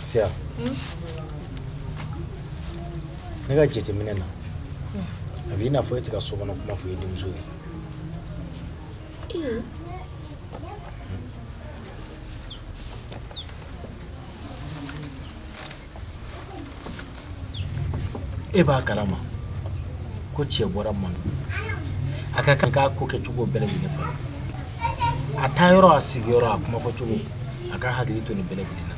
Siya ne ka jateminɛ na a bɛ i n'a fɔ e tɛ ka so kɔnɔ kuma fɔ i denmuso ye e b'a kalama ko cɛ bɔra a ma a ka kan k'a ko kɛ cogo bɛɛ lajɛlen fɔlɔ a taa yɔrɔ a sigiyɔrɔ a kuma fɔ cogo a k'a hakili to nin bɛɛ lajɛlen na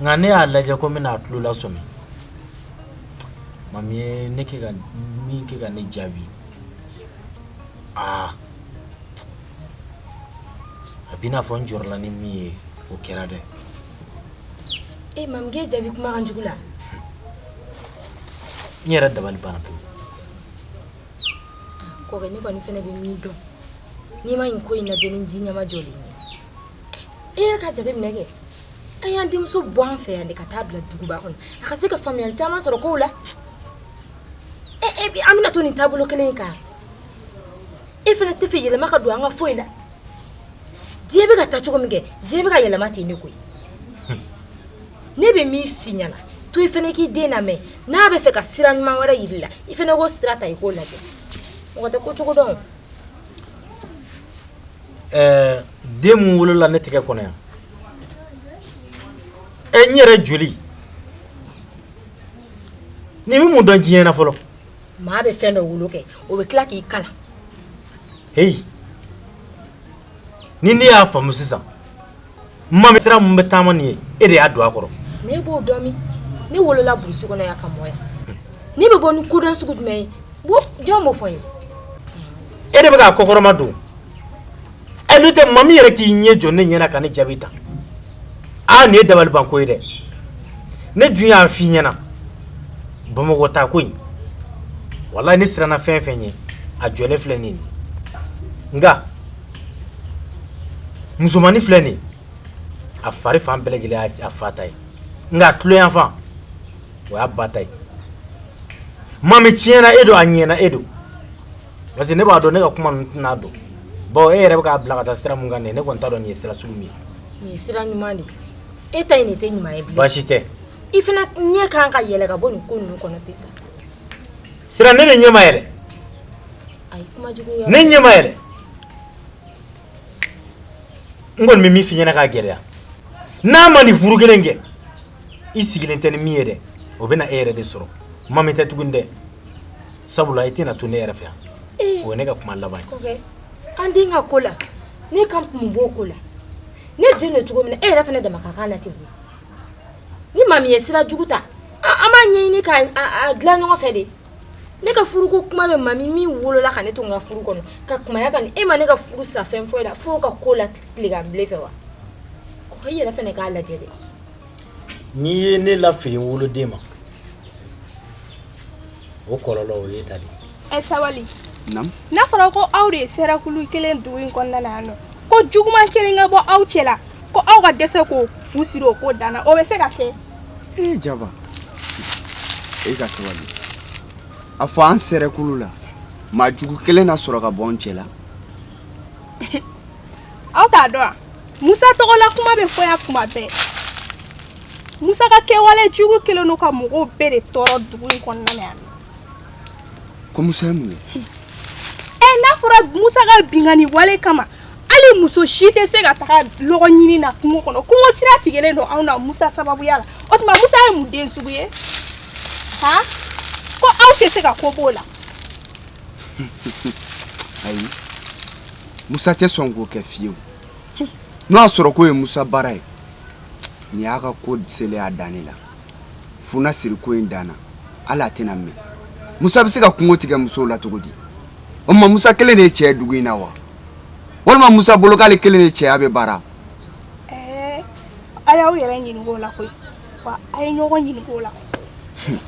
nka ne y'a lajɛ ko n bɛna a tulo lasɔmi mami ye ne kɛ ka min kɛ ka ne jaabi aa a b'i n'a fɔ n jɔrɔla ni min ye o kɛra dɛ e mami k'e jaabi kumakan jugu la n yɛrɛ dabali banna pewu kɔkɛ ne kɔni fɛnɛ bɛ min dɔn n'i ma nin ko in lajɛ ni ji nɛmajɔlen ye e yɛrɛ ka jateminɛ kɛ an y'an denmuso bɔ an fɛ yan de ka taa bila duguba kɔnɔ a ka se ka faamuyali caman sɔrɔ kow la e e an bɛna to nin taabolo kelen in kan e fana tɛ fɛ yɛlɛma ka don an ka foyi la diɲɛ bɛ ka taa cogo min kɛ diɲɛ bɛ ka yɛlɛma ten de koyi ne bɛ min f'i ɲɛna to i fana k'i den lamɛn n'a bɛ fɛ ka sira ɲuman wɛrɛ yir'i la i fana k'o sira ta i k'o lajɛ mɔgɔ tɛ ko cogo dɔn ɛɛ den min wolola ne tɛgɛ kɔnɔ yan ɛ n yɛrɛ joli nin bɛ mun dɔn diɲɛ na fɔlɔ Maa bɛ fɛn dɔ wolo kɛ o bɛ tila k'i kalan heyi ni ne y'a faamu sisan mami sira min bɛ taama nin ye e de y'a don a kɔrɔ ne b'o dɔn min ne wolola burusi kɔnɔ yan ka mɔ yan ne bɛ bɔ ni koda sugu jumɛn ye jɔn b'o fɔ n ye e de bɛ k'a kɔkɔrɔmadon n'o tɛ mami yɛrɛ k'i ɲɛ jɔ ne ɲɛna ka ne jaabi tan aa nin ye dabalibanko ye dɛ ne dun y'a fɔ i ɲɛna bamakɔ taa ko in walayi ne siranna fɛn fɛn ɲɛ a jɔlen filɛ nin nka musomannin filɛ nin a fari fan bɛɛ lajɛlen a fa ta ye nka a tulo yanfan o y'a ba ta ye mami tiɲɛna e don a ɲɛna e don parce que ne b'a dɔn ne ka kuma ninnu tɛna don bon e yɛrɛ bɛ k'a bila ka taa sira min kan nin ye ne kɔni t'a dɔn nin ye sira sugu min ye. nin ye sira ɲuman de ye e ta in de tɛ ɲuman ye bilen. baasi tɛ. i fana ɲɛ ka kan ka yɛlɛ ka bɔ nin ko ninnu kɔnɔ ten sa. sira ne de ɲɛ ma yɛlɛ. ayi kuma jugu yɔrɔ. ne ɲɛ ma yɛlɛ. n kɔni bɛ min f'i ɲɛna k'a gɛlɛya n'a ma nin furu kelen kɛ i sigilen tɛ ni min ye dɛ o bɛ na e yɛrɛ de sɔrɔ mami tɛ tuguni dɛ. sabula i tɛna to ne yɛrɛ fɛ yan ee o ye ne ka kuma laban ye ko kɛ an den ka ko la ne ka kun b'o ko la ne den don cogo min na e yɛrɛ fana dama ka kan na ten koyi ni maa min ye sira jugu ta an an b'a ɲɛɲini ka a a dilan ɲɔgɔn fɛ de ne ka furuko kuma bɛ maa min min wolola ka ne to n ka furu kɔnɔ ka kumaya ka nin e ma ne ka furu sa fɛn foyi la fo ka ko la tileganbile fɛ wa ko i yɛrɛ fana k'a lajɛ de n'i ye ne lafili woloden ma o kɔrɔ o ye ta e sabali n'a fɔra ko aw de ye sɛrɛkulu kelen dugu in kɔnɔna yan nɔ ko juguman kelen ka bɔ aw cɛ la ko aw ka dɛsɛ k'o fu siri o ko dan na o bɛ se ka kɛ e jaba e ka sabali a fɔ an sɛrɛkulu la maa jugu kelen na sɔrɔ ka bɔ an cɛ la aw t'a dɔn wa musa tɔgɔla kuma bɛ fɔ yan kuma bɛɛ musa ka kɛwale jugu kelen don ka mɔgɔw bɛɛ de tɔɔrɔ dugu in kɔnɔna na yan ko musa ye mun ye ɛ n'a fɔra musa ka binkanni wale kama hali muso si tɛ se ka taga lɔgɔ ɲini na kungo kɔnɔ kungo sira tigɛlen don anw na musa sababuya la o tuma musa ye mun den sugu ye han ko aw tɛ se ka ko b'o la ayi musa tɛ sɔn k'o kɛ fiyewu n'o y'a sɔrɔ k'o ye musa baara ye nin y'a ka ko selen y'a dan ne la fu na siri ko in dan na hali a tɛna mɛn musa bɛ se ka kungo tigɛ musow la cogo di o tuma musa kelen de ye cɛ dugu in na wa walima musa bolo k'ale kelen de cɛya bɛ baara a y'aw yɛrɛ ɲininka o la koyi wa a ye ɲɔgɔn ɲininka o la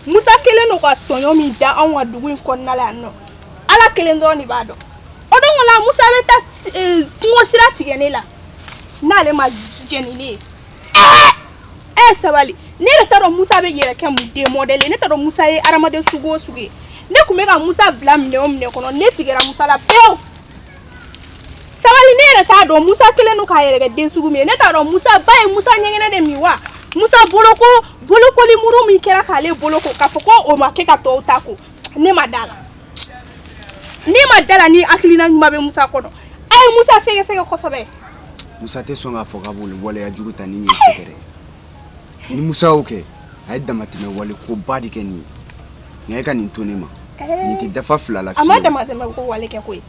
musa kelen don ka tɔɲɔ min da anw kan dugu in kɔnɔna la yan nɔ ala kelen dɔrɔn de b'a dɔn o don la musa bɛ taa eh, kungo sira tigɛ ne la n'ale ma jɛ ni ne ye ɛɛ eh, eh, sabali ne yɛrɛ t'a dɔn musa b'i yɛrɛ kɛ mun den mɔdɛli ye ne t'a dɔn musa ye hadamaden sugu o sugu ye ne tun bɛ ka musa bila minɛn o minɛn kɔnɔ ne tigɛra musa la pewu sabali ne yɛrɛ t'a dɔn musa kelen don k'a yɛrɛ kɛ den sugu min ye ne t'a dɔn musa ba ye musa ɲɛgɛnɛ de min wa musa boloko bolokoli muru min kɛra k'ale boloko k'a fɔ ko o ma kɛ ka tɔw ta ko ne ma d'a la ne ma d'a la ni hakilina ɲuman bɛ musa kɔnɔ a ye musa sɛgɛsɛgɛ kosɛbɛ musa tɛ sɔn k'a fɔ k'a b'olu waleya jugu ta ni nin ye sɛgɛrɛ ni musa y'o kɛ a ye damatɛmɛ wale ko ba de kɛ nin ye nka e ka nin to ne ma nin tɛ dafa fila la a ma damatɛmɛ ko wale kɛ koyi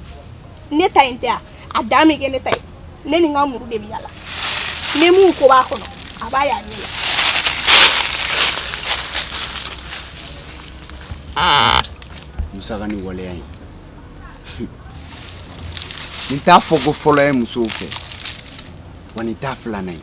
ne ta in tɛ a a dan bɛ kɛ ne ta ye ne ni n ka muru de bɛ yala ni mun ko b'a kɔnɔ a b'a y'a ɲɛ la musa ka nin waleya in nin t'a fɔko fɔlɔ ye musow fɛ wa nin t'a filanan ye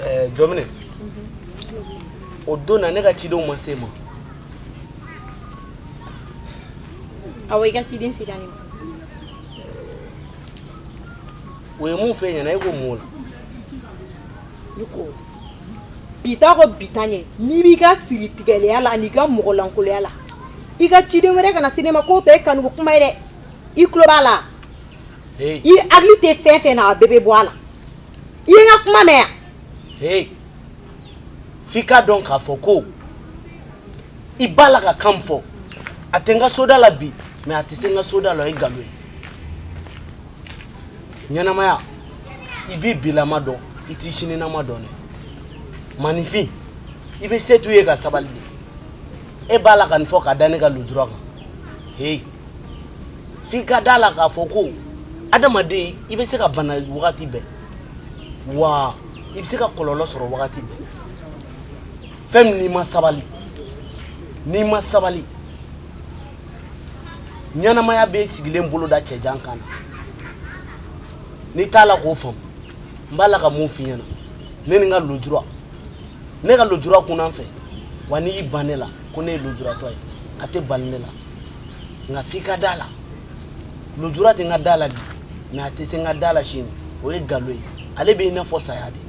Eh, jɔmine o don na ne ka cidenw ma s'e ma awa i ka ciden sera ne ma o ye mun f'i ɲɛna e ko mun la ne ko bita ko bita ɲɛ n'i b'i ka siri tigɛlɛya la an'i ka mɔgɔlankoloya la i ka ciden wɛrɛ kana se ne ma k'o tɛ e kanuko kuma ye dɛ i tulo b'a la Hey, i hakili tɛ fɛn fɛn na a bɛɛ bɛ bɔ a la i ye n ka kuma mɛn yan hey. f'i k'a dɔn k'a fɔ ko i b'a la ka kan min fɔ a tɛ n ka soda la bi mɛ a tɛ se n ka soda la o ye nkalon ye ɲɛnamaya i b'i bilama dɔn i t'i sininama dɔn dɛ maaninfin i bɛ se t'u ye ka sabali de e b'a la ka nin fɔ ka da ne ka lujura kan heyi f'i ka d'a la k'a fɔ ko adamaden i bɛ se ka bana wagati bɛɛ wa i bɛ se ka kɔlɔlɔ sɔrɔ wagati bɛɛ fɛn min n'i ma sabali n'i ma sabali ɲɛnamaya bɛ sigilen bolo da cɛjan kan na n'i t'a la k'o faamu n b'a la ka mun f'i ɲɛna ne ni n ka lujura ne ka lujura kunna n fɛ wa n'i y'i ban ne la ko ne ye lujuratɔ ye a tɛ bali ne la nka f'i ka d'a la lujura tɛ n ka da la bi mɛ a tɛ se n ka da la sini o ye galon ye ale bɛ i n'a fɔ saya de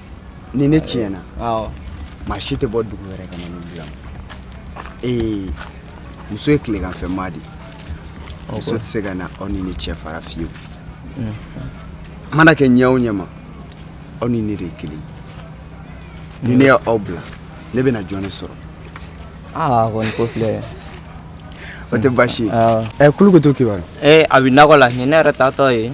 ni ne tiɲɛna maa si tɛ bɔ dugu wɛrɛ ka na ne dila ee muso ye tileganfɛmaa de muso tɛ se ka na aw ni ne cɛ fara fiyewu mana kɛ ɲɛ o ɲɛma aw ni ne de ye kelen ni ne y'aw bila ne bɛna jɔn ne sɔrɔ aa kɔni ko filɛ o tɛ baasi ye ɛ kulukutu kibaru ee a bɛ nakɔ la nin ne yɛrɛ taatɔ ye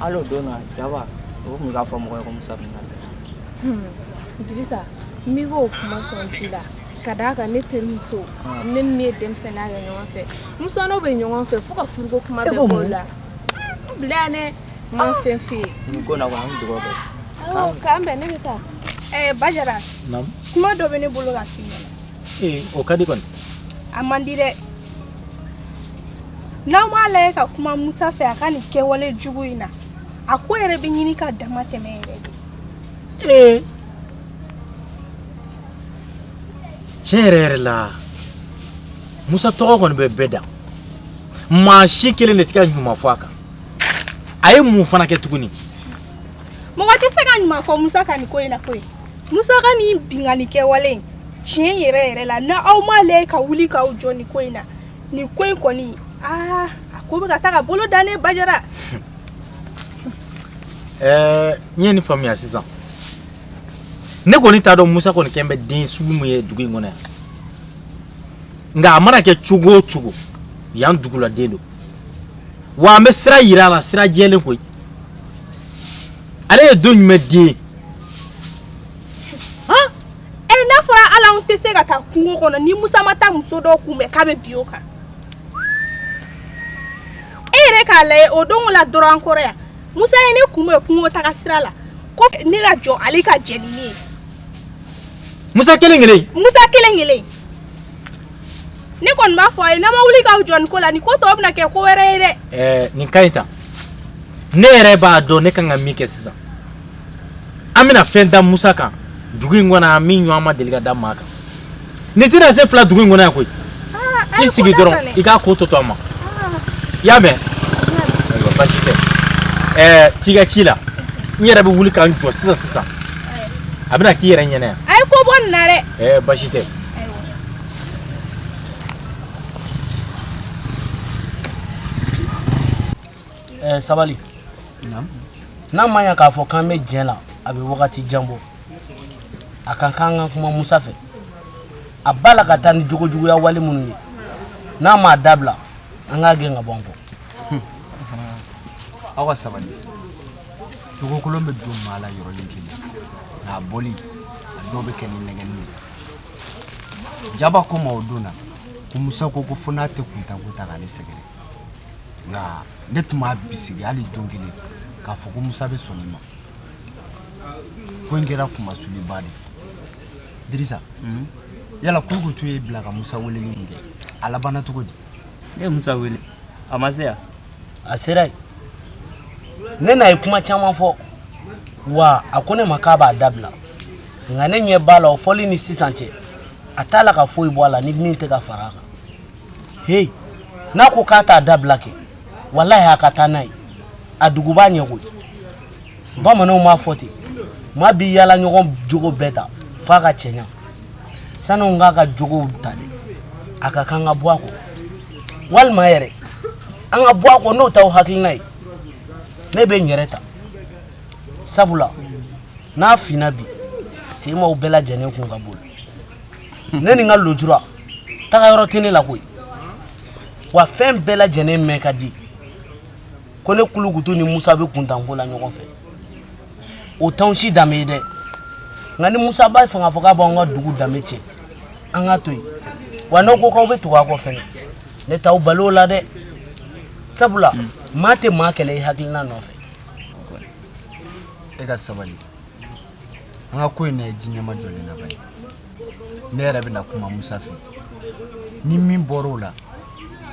Ala don jaba o tun k'a fɔ mɔgɔ ko musa Dirisa n o kuma sɔn ji la ka d'a kan ne terimuso ne ni min ye denmisɛnninya kɛ ɲɔgɔn fɛ mu bɛ ɲɔgɔn fɛ fo ka furuko kuma la bila ne ma fɛn fɛ yen ko na an dugawu kɛ k'an bɛn ne bɛ taa ɛɛ ba jara kuma dɔ bɛ ne bolo ka f'i ye o ka di kɔni a man di dɛ n'aw m'a lajɛ ka kuma musa fɛ a ka nin kɛwale jugu in na a ko yɛrɛ bɛ ɲini ka damatɛmɛ yɛrɛ dɛ ee tiɲɛ yɛrɛ yɛrɛ la musa tɔgɔ kɔni bɛ bɛɛ da maa si kelen de tɛ ka ɲuman fɔ a kan a ye mun fana kɛ tuguni mɔgɔ tɛ se ka ɲuman fɔ musa ka nin ko in na koyi musa ka nin binkanni kɛwale in tiɲɛ yɛrɛ yɛrɛ la n'aw m'a lajɛ ka wuli k'aw jɔ nin ko in na nin ko in kɔni aa a ko bɛ ka taa ka bolo dan dɛ bajara ɛɛ eh, n ye nin faamuya sisan ne kɔni t'a dɔn musa kɔni kɛlen bɛ den sugu min ye dugu in kɔnɔ yan nka a mana kɛ cogo o cogo yan duguladen don wa an bɛ sira yira a la sira jɛlen koyi ale ye don jumɛn den ye ɛ n'a fɔra ala anw tɛ se ka taa kungo kɔnɔ ni musa ma taa muso dɔ kunbɛn k'a bɛ bin o kan e yɛrɛ k'a lajɛ o don la dɔrɔn an kɔrɔ yan musa ye ne kunbɛn kungo taga sira la ko ne ka jɔ ale ka jɛ ni ne ye musa kelen kelen musa kelen kelen ne kɔni b'a fɔ a ye n'aw ma wuli k'aw jɔ nin ko la nin ko tɔ bɛna kɛ ko wɛrɛ ye dɛ. ɛɛ nin ka ɲi tan ne yɛrɛ b'a dɔn ne kan ka min kɛ sisan an bɛna fɛn da musa kan dugu in kɔnɔ yan min ɲɔgɔn ma deli ka da maa kan nin tɛna se fila dugu in kɔnɔ yan koyi i sigi dɔrɔn i k'a ko tɔ to an ma i y'a mɛn ayiwa basi tɛ ɛɛ t'i ka ci la n yɛrɛ bɛ wuli ka n jɔ sisan sisan a bɛna k'i yɛrɛ ɲɛna yan. a ye ko bɔ nin na dɛ. ɛɛ basi tɛ. Eh, sabali n'a ma ɲa k'a fɔ k'an bɛ jɛ la a bɛ wagati jan bɔ a ka kan ka kuma musa fɛ a b'a la ka taa ni jogojuguya wale minnu ye n'a m'a dabila an k'a gɛn ka bɔ an kɔ aw ka sabali jogokolon bɛ don maa la yɔrɔnin kelen nka a bɔli a dɔw bɛ kɛ ni nɛgɛnni ye jaba ko n ma o don na ko musa ko ko fo n'a tɛ kuntanko ta k'ale sɛgɛrɛ nka ne tun m'a bisigi hali don kelen k'a fɔ ko musa bɛ sɔn nin ma ko in kɛra kunmasuliba dɛ dirisa hmm? yala kulukutu y'e bila ka musa weleli min kɛ a labanna cogo di ne ye musa wele a ma se yan a sera yen ne n'a ye kuma caman fɔ wa a ko ne ma k'a b'a dabila nka ne ɲɛ b'a la o fɔli ni sisan cɛ a t'a la ka foyi bɔ a la ni min tɛ ka fara a kan heyi n'a ko k'a t'a dabila kɛ walahi a ka taa n'a ye a dugu b'a ɲɛ koyi bamananw b'a fɔ ten maa b'i yaalaɲɔgɔn jogo bɛɛ ta f'a ka cɛɲa sani an k'a ka jogow ta dɛ a ka kan ka bɔ a kɔ walima yɛrɛ an ka bɔ a kɔ n'o t'aw hakilina ye ne bɛ n yɛrɛ ta sabula n'a finna bi sen b'aw bɛɛ lajɛlen kun ka boli ne ni n ka lujura tagayɔrɔ tɛ ne la koyi wa fɛn bɛɛ lajɛlen mɛn ka di ko ne kulukutu ni musa bɛ kuntanko la ɲɔgɔn fɛ o t'an si danbe ye dɛ nka ni musa b'a fɛ k'a fɔ k'a b'an ka dugu danbe tiɲɛ an k'a to yen wa n'aw ko k'aw bɛ tugu a kɔ fɛnɛ ne t'aw bali o la dɛ sabula maa tɛ maa kɛlɛ i hakilina nɔfɛ e ka sabali an ka ko in lajɛ ji ɲɛmajɔlen na bani ne yɛrɛ bɛna kuma musa fɛ ni min bɔra o la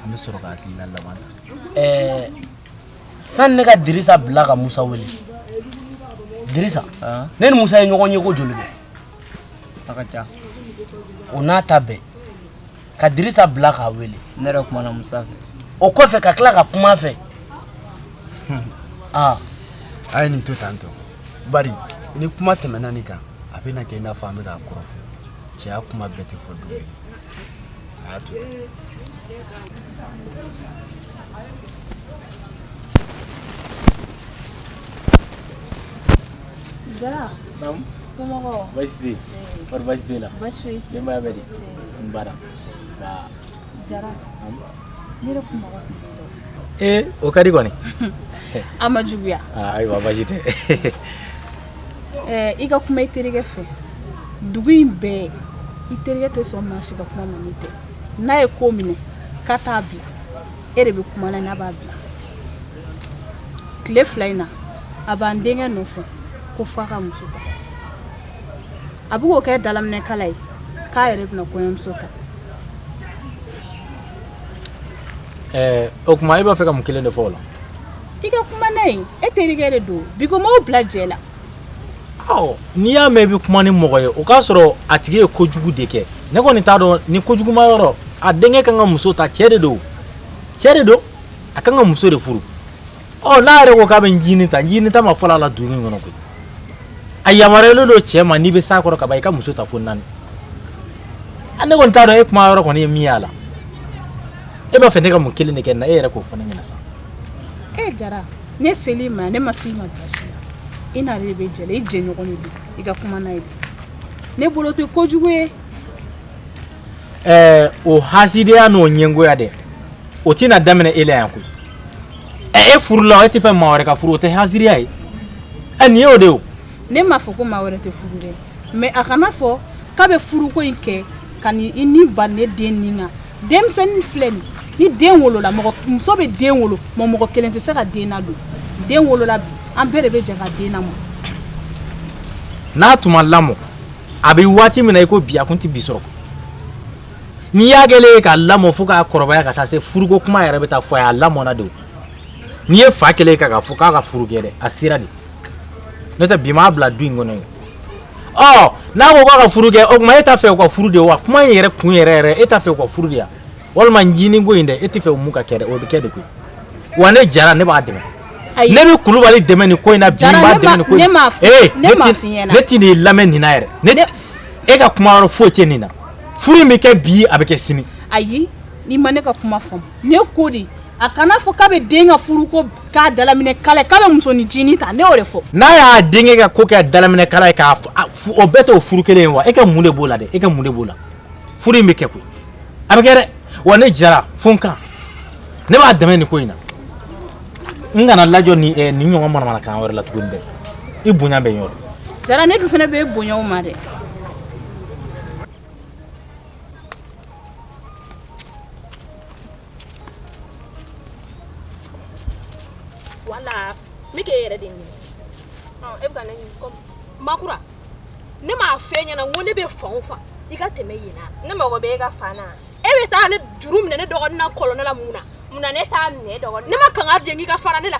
an bɛ sɔrɔ ka hakilina laban ta ɛɛ sani ne ka dirisa bila ka musa wele dirisa ne ni musa ye ɲɔgɔn ye ko joli bi a ka ca o n'a ta bɛɛ ka dirisa bila k'a wele ne yɛrɛ kumana musa fɛ o kɔfɛ ka tila ka kuma a fɛ hmm. ah. a ye nin to tan tɔ bari ni kuma tɛmɛna nin kan a bɛna kɛ i n'a fɔ an bɛ k'a kɔrɔfɔ cɛya kuma bɛɛ tɛ fɔ don ye a y'a to Jara. Naam. Somɔgɔw. Baasi tɛ yen. Kɔri baasi tɛ yen na? Baasi foyi tɛ yen. Denbaya bɛ di? O ka di kɔni a ma juguya ayiwa baasi tɛ i ka kuma i terikɛ fɛ dugu in bɛɛ i terikɛ tɛ sɔn maa si ka kuma ma n'i tɛ n'a ye ko minɛ k'a t'a bila e de bɛ kuma na n'a b'a bila tile fila in na a b'an denkɛ nɔfɛ ko f'a ka muso a bɛ k'o kɛ dalaminɛkala ye k'a yɛrɛ bɛna kɔɲɔmuso ta ɛɛ o tuma e b'a fɛ ka mun kelen de fɔ o la i ka kuma n'a ye e terikɛ de don bi ko m'aw bila jɛ la ɔ n'i y'a mɛn i bɛ kuma ni mɔgɔ ye o k'a sɔrɔ a tigi ye kojugu de kɛ ne kɔni t'a dɔn nin kojuguma yɔrɔ a denkɛ kan ka muso ta cɛ de don cɛ de don a kan ka muso de furu ɔ n'a yɛrɛ ko k'a bɛ jini ta jini ta ma fɔlɔ a la dugu in kɔnɔ koyi a yamaruyalen don cɛ ma n'i bɛ s'a kɔrɔ ka ban i ka muso ta fo naani a ne kɔni t'a dɔn e kuma yɔrɔ kɔni ye min y'a la e b'a fɛ ne ka mun kelen de kɛ na e yɛrɛ k'o fɔ ne ɲɛna sa e jara ne seli ma ne ma f'i ma basi la i n'ale de bɛ jɛ la i jɛɲɔgɔn de don i ka kuma n'a ye ne bolo tɛ kojugu ye ɛɛ o hasidiya n'o ɲɛngoya dɛ o tɛna daminɛ e la yan koyi e furu la e tɛ fɛ maa wɛrɛ ka furu o tɛ hasidiya ye ɛ nin y'o de o ne m'a fɔ ko maa wɛrɛ tɛ furu dɛ mɛ a kana fɔ k'a bɛ furuko in kɛ ka ni i ni ba ne den nin na denmisɛnnin filɛ nin ni den wolola mɔgɔ muso bɛ den wolo mɛ mɔgɔ kelen tɛ se ka den ladon den wolola bi an bɛɛ de bɛ jɛ ka den lamɔ n'a tun ma lamɔ a bɛ waati min na i ko bi a kun tɛ bi sɔrɔ n'i y'a kɛlen ye k'a lamɔ fo k'a kɔrɔbaya ka taa se furuko kuma yɛrɛ bɛ taa fɔ a ye a lamɔna de o n'i ye fa kɛlen ye ka k'a fɔ k'a ka furu kɛ dɛ a sera de n'o tɛ bi m'a bila du in kɔnɔ ye ɔ n'a ko k'a ka furu kɛ o tuma e t'a fɛ u ka furu de wa kuma in yɛrɛ kun yɛrɛ yɛrɛ e t'a fɛ u ka furu de wa walima jini ko in dɛ e tɛ fɛ u mun ka kɛ dɛ o bɛ kɛ de koyi wa ne jara ne b'a dɛmɛ ne bɛ kulubali dɛmɛ nin ko in na bi n b'a dɛmɛ nin ko in na ee ne tɛn'i lamɛn nin na yɛrɛ ne e ka kuma yɔrɔ foyi tɛ nin na furu in bɛ kɛ bi a bɛ kɛ sini ayi n'i ma ne ka kuma faamu ne ko de a kana fɔ k'a bɛ den ka furuko k'a dalaminɛ k'a la yen k'a bɛ musonin jini ta ne y'o de fɔ n'a y'a denkɛ ka ko kɛ dalaminɛ k'a la yen k'a o bɛɛ t'o furu kelen ye wa e ka mun de b'o la dɛ e ka mun de b'o la furu in bɛ kɛ koyi a bɛ kɛ dɛ wa ne jara fo n kan ne b'a dɛmɛ nin ko in na n kana lajɔ ni eh, nin ɲɔgɔn manamanakan wɛrɛ la tuguni dɛ i bonya bɛ n yɔrɔ jara ne dun fana bɛ bonyaw ma dɛ wala n bɛ k'e yɛrɛ de ɲini e bɛ ka ne ɲini kɔmi makura ne m'a fɔ e ɲɛna n ko ne bɛ fan o fan i ka tɛmɛ yen na ne mago bɛ e ka fan na e bɛ taa ne juru minɛ ne dɔgɔnin na kɔlɔn la mun na mun na ne t'a minɛ dɔgɔnin ne ma kanga jɛ k'i ka fara ne la